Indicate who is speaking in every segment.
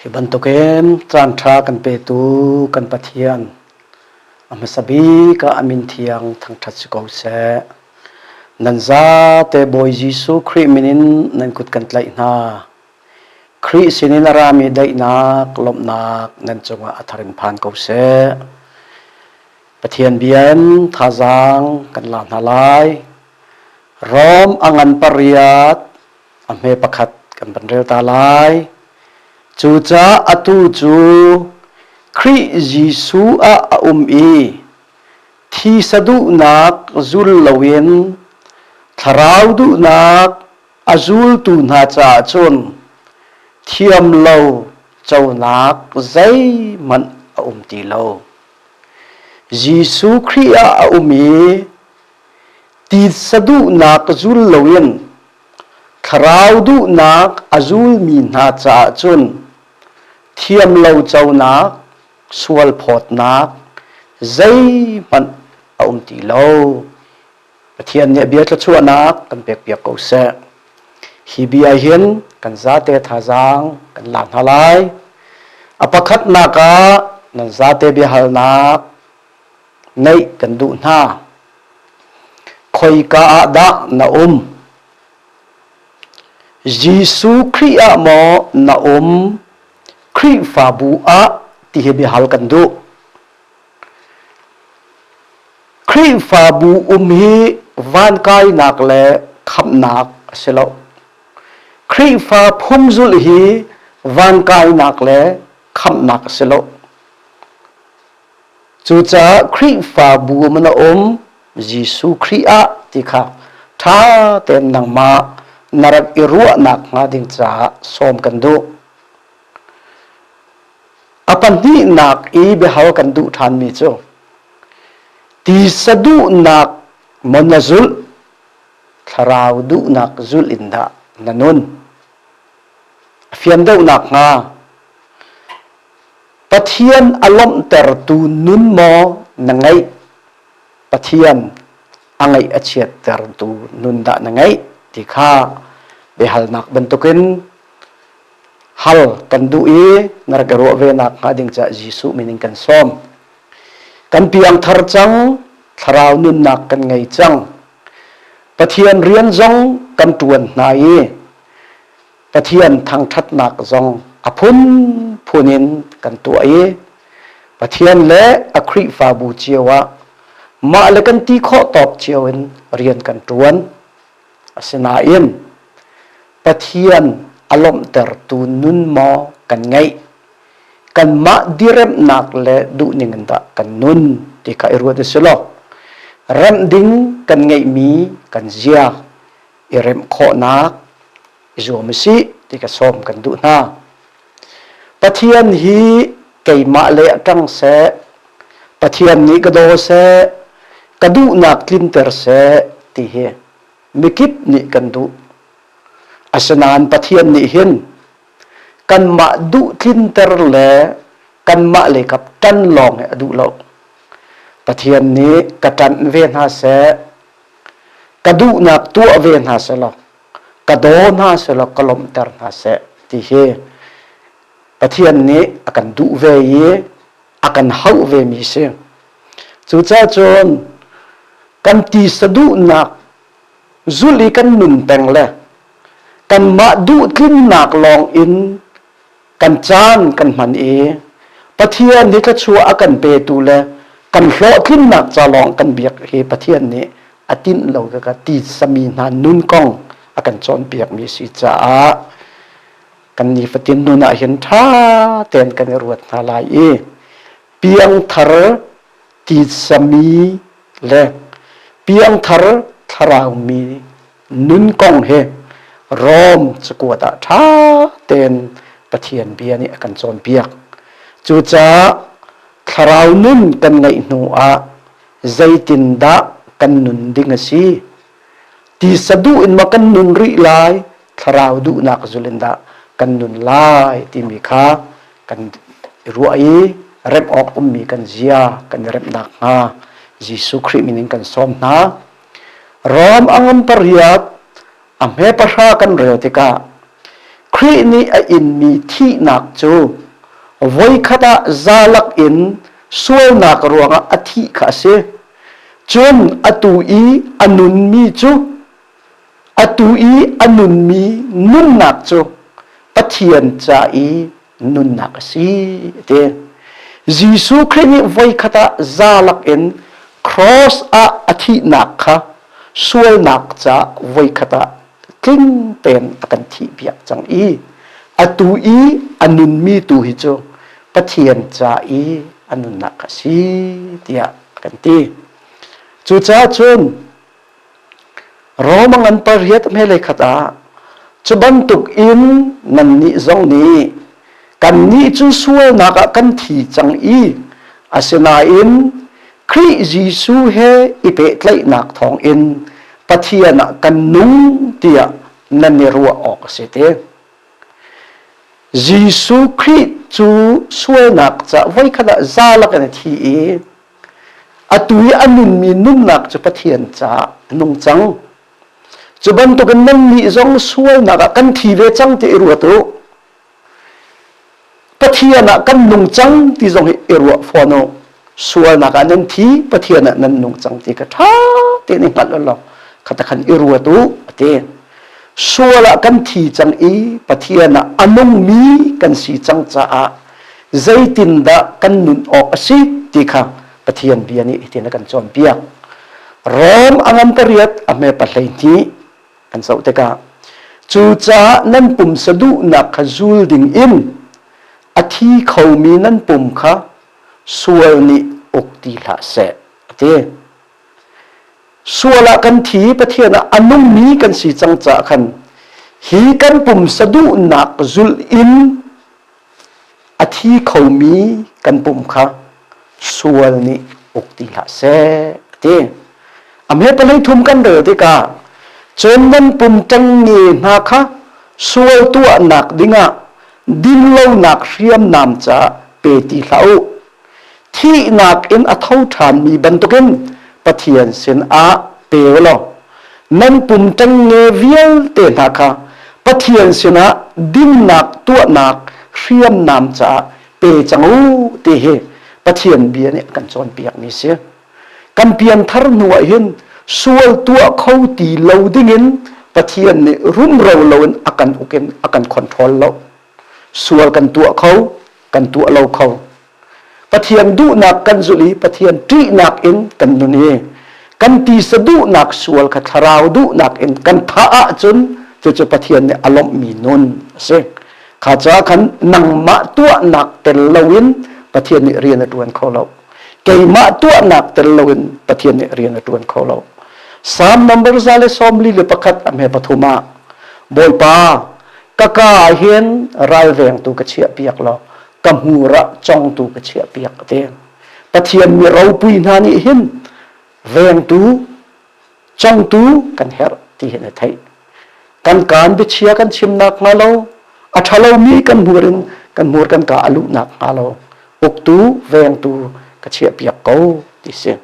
Speaker 1: Hi bantukin caanṭha kan petu kan Pathian a hmasa bik ah a min thiang thangṭhat si ko seh. Nan zate Bawi Jesuh Khrih min in nan kut kan tlaih hna. Khrih sinin a rami daihnak, lawmhnak nan cungah a tharin phan ko seh. Pathian bia in thazaang kan la hna lai. Rom a ngan pariat a hme pakhat kan van rel ta lai cucaah atu cu Khrih Jesuh ah a um i thi saduhnak zul loin thlarau duhnak a zultu hna caah cun thiam lo conak zeihmanh a um ti lo. Jesuh Khrih ah a um i Titsa duhnak ka zul loin thlarau duhnak a zulmi hna caah cun thiam lo conak, sualphawtnak zeihmanh a um ti lo. Pathian nih a bia thluachuahnak kan pekpiak ko seh. Hi bia hin kan zate thazaang kan la hna lai. A pakhatnak ah nan zate biahalnak Neih kan duh hna. Khoika ah dah na um? Jesuh Khrih ah maw na um? Khrihfabu ah ti hi biahal kan duh. Khrihfabu um hi van kainak le khamnak a si lo. Khrihfa phungzul hi van kainak le khamnak a si lo. Cucaah Khrihfabu um na um Jesuh Khrih ah ti kha ṭha tein nangmah na rak i ruahnak hnga ding caah sawm kan duh. A pahnihnak i biahal kan duh ṭhanmi cu ti saduhnak maw na zulh thlarau duhnak zulh in dah na nun? A fian deuh nakhnga Pathian a lawmhtertu nun maw na ngeih? Pathian a ngaih a chiattertu nun dah na ngeih ti kha biahalnak bantukin hal kan duh i na rak i ruah ve nak hnga ding caah Jesuh min in kan sawm. Kan piangthar cang, thlarau nunnak kan ngei cang. Pathian rian zong kan ṭuan hna i Pathian thangṭhatnak zong a phunphun in kan tuah i Pathian le a Khrihfabu cio ah mah le kan ti khawh tawk cio in rian kan ṭuan. Asinain Pathian a lawmhtertu nun maw kan ngeih? Kanmah diremhnak le duhning in dah kan nun ti kha i ruat u sih law remh ding kan ngeihmi kan zia i remh khawhnak i zuam u sih ti ka sawm kan duh hna. Pathian hi keimah le a ṭang seh, Pathian nih ka daw seh, ka duhnak tlinter seh ti hi mikip nih kan duh. Asinain Pathian nih hin kanmah duh tlinter le kanmah le kap ṭan lawng hi a duh lo. Pathian nih ka ṭanh ve hna seh, ka duhnak tuah ve hna selaw ka daw hna selaw ka lawmhter hna seh ti hi Pathian nih a kan duh ve i a kan hauh ve mi si cucacun kan tisa duhnak zul i kan nun peng le kanmah duhtlinnak lawng in kan caan kan hman i Pathian nih thluachuah a kan petu le kan hlawhtlinnak ca lawng kan biak hi Pathian nih a tinh lo ka ti sami hna nun kong a kan cawnpiakmi si caah kan nifatin nun ah hin ṭha tein kan i ruat hna lai i piangthar ti sami le piangthar thlarau mi nun kong hi Rom cakuat ah ṭha tein Pathian bia nih a kan cawnpiak. Cucaah thlarau nun kan ngeih hnu ah zeitindah kan nun ding a si? Tisa duh in maw kan nun rih lai? Thlarau duhnak zul in dah kan nun lai timi kha kan i ruah i remh awk ummi kan zia kan i remh nakhnga Jesuh Khrih min in kan sawm hna. Rom a ngam pariat a hme pahra kan rel tikah Khrih nih a inmi thihnak cu voikhat ah zalak in sualnak ruangah a thih kha a si. Cun atu i a nunmi cu atu i a nunmi nunnak cu Pathian ca i nunnak a si ti Jesuh Khrih nih voikhat ah zalak in cross ah a thihnak kha sualnak ca voikhat ah tling tein a kan thih piak cang i atu i a nunmi tu hi cu Pathian ca i a nunnak a si tiah kan ti cucaah cun Rom a ngan pariat hmelei khat ah cu bantuk in nannih zong nih kannih cu sualnak ah kan thi cang i asinain Khrih Jesuh he i pehtlaihnak thawng in Pathian ah kan nung tiah nan i ruah awk a si ti. Jesuh Khrih cu sualnak ca voikhat ah zalak in a thi i Atu i a nunmi nunnak cu Pathian caah a nung cang. Cu bantukin nannih zong sualnak ah kan thi ve cang ti i ruat u. Pathian ah kan nung cang ti zong hi i ruah fawn u. Sualnak ah nan thi, Pathian ah nan nung cang ti kha ṭha tein i hngalh u law khata khan i ruat u a ti. Sual ah kan thi cang i Pathian ah a nungmi kan si cang caah zeitindah kan nun awk a si ti kha Pathian bia nih hitin a kan cawnpiak. Rom a ngan ka riat a hme pa hlei hnih kan zoh tikah cucaah nan pumsa duhnak kha zul ding in a thi khomi nan pum kha sual nih uk ti hlah seh a ti. Sual ah kan thi Pathian ah a nungmi kan si cang caah khan hi kan pumsa duhnak zulh in A thi khomi kan pum kha sual nih uk ti hlah seh ti. Amhe palei thum kan rel tikah cun nan pum ṭengnge hna kha sual tuahnak dingah dinlonak hriamnam ca pe ti hlah u thihnak in a tho ṭhanmi bantukin Pathian sinah pe u law nan pum ṭengnge vialte hna kha Pathian sinah dinnak tuahnak hriamnam caah pe cang u ti hi Pathian bia nih a kan cawnpiakmi a si. Kan pianthar hnuah hin sual tuah kho ti lo dingin Pathian nih rumro loin a kan uk in a kan control lo sual kan tuah kho kan tuah lo kho pathian duhnak kan zulh i pathian ṭihnak in kan nun i kan tisa duhnak sual kha thlarau duhnak in kan thah ahcun cucu pathian nih a lawmhmi nun a si kha ca khan nangmah tuahnak tel loin pathian nih rian a ṭuan kho lo keimah tuahnak tel loin pathian nih rian a ṭuan kho lo Psalm number za le sawm li le pakhat a hme pathum ah Bawipa ka ka ahhin ralvengtu ka chiahpiak law ka hmur ah congtu ka chiahpiak ka veng pathian mi ropui hna nih hin vengtu congtu kan herh ti hin a theih kan kaan biachia kan chim nak hnga lo a ṭhalo mi kan hmur in kan hmur kan ka a luh nak hnga lo uktu vengtu ka chiahpiak ko ti si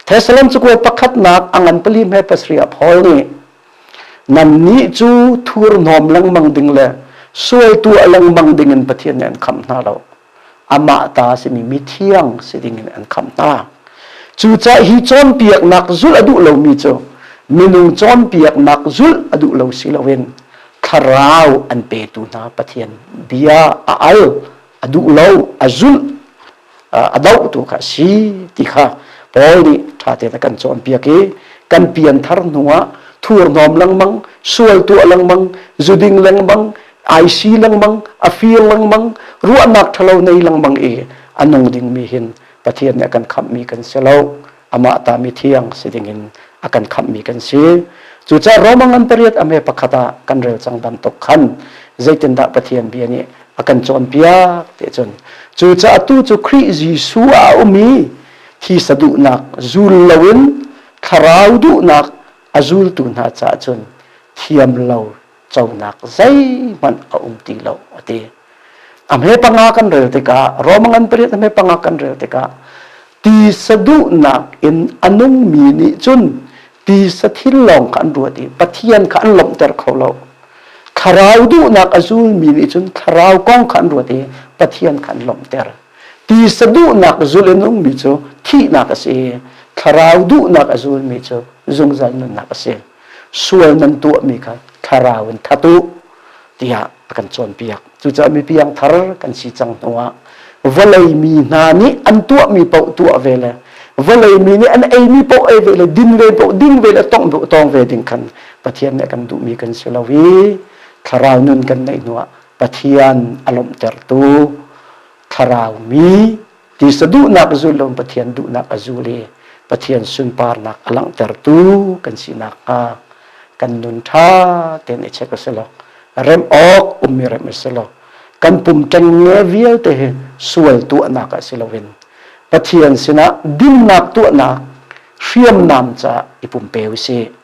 Speaker 1: Thessalon cukua pakhatnak angan pali me pasria Paul nih Nannih cu thurhnawm lengmang ding le sualtuah lengmang ding in Pathian nih an khamh hna lo. Amah ta simi mithiang si ding in an khamh hna. Cucaah hi cawnpiaknak zulh a duh lomi cu minung cawnpiaknak zulh a duh lo si loin thlarau an petu hna Pathian bia a al a duh lo a zulh a dohtu kha a si ti kha Paul nih ṭha tein a kan cawnpiak i kan pian thar hnuah thurhnawm lengmang sual tuah lengmang zuding lengmang aisi lengmang a fir lengmang ruahnak ṭhalo nei lengmang i a nung dingmi hin Pathian nih a kan khamhmi kan si lo amah ta mi thiang si dingin a kan khamhmi kan si cucaah Roman ngan pariat a me pakhat ah kan rel cang dam tuk khan zeitindah Pathian bia nih a kan cawnpiak ti cun cucaah tu cu Khrih Jesuh a ummi thisa duhnak zul loin thlarau duhnak a zultu hna caah cun thiam lo conak zeihmanh a um ti lo a ti a hme panga kan rel tikah Roma ngan pariat a hme panga kan rel tikah ti saduhnak in a nungmi nih cun ti sathil lawng kha an ruat i pathian kha an lawmhter kho lo thlarau duhnak a zulmi nih cun thlarau kong kha an ruat i pathian kha an lawmhter ti saduhnak zul in ummi cu thihnak a si i thlarau duhnak a zulmi cu zungzal nunnak a si sual nan tuahmi kha thlarau in that u tiah a kan cawnpiak cucaah mipiang thar kan si cang hnuah vawlei mi hna nih an tuahmi paoh tuah ve le vawlei mi nih an eimi paoh ei ve le din ve paoh ding ve le tong tong ve ding khan Pathian nih a kan duhmi kan si lo i thlarau nun kan neih hnuah Pathian a lawmhtertu thlarau mi Tisa duhnak zul lo Pathian duhnak a zul i Pathian sunparnak a langhtertu kan si nakhnga kan nun ṭha tein i check a si lo. Remh awk ummi remh a si lo. Kan pum ṭengnge vialte hi sual tuahnak ah si loin Pathian sinah dinnak tuahnak hriamnam ca i pumpe u sih.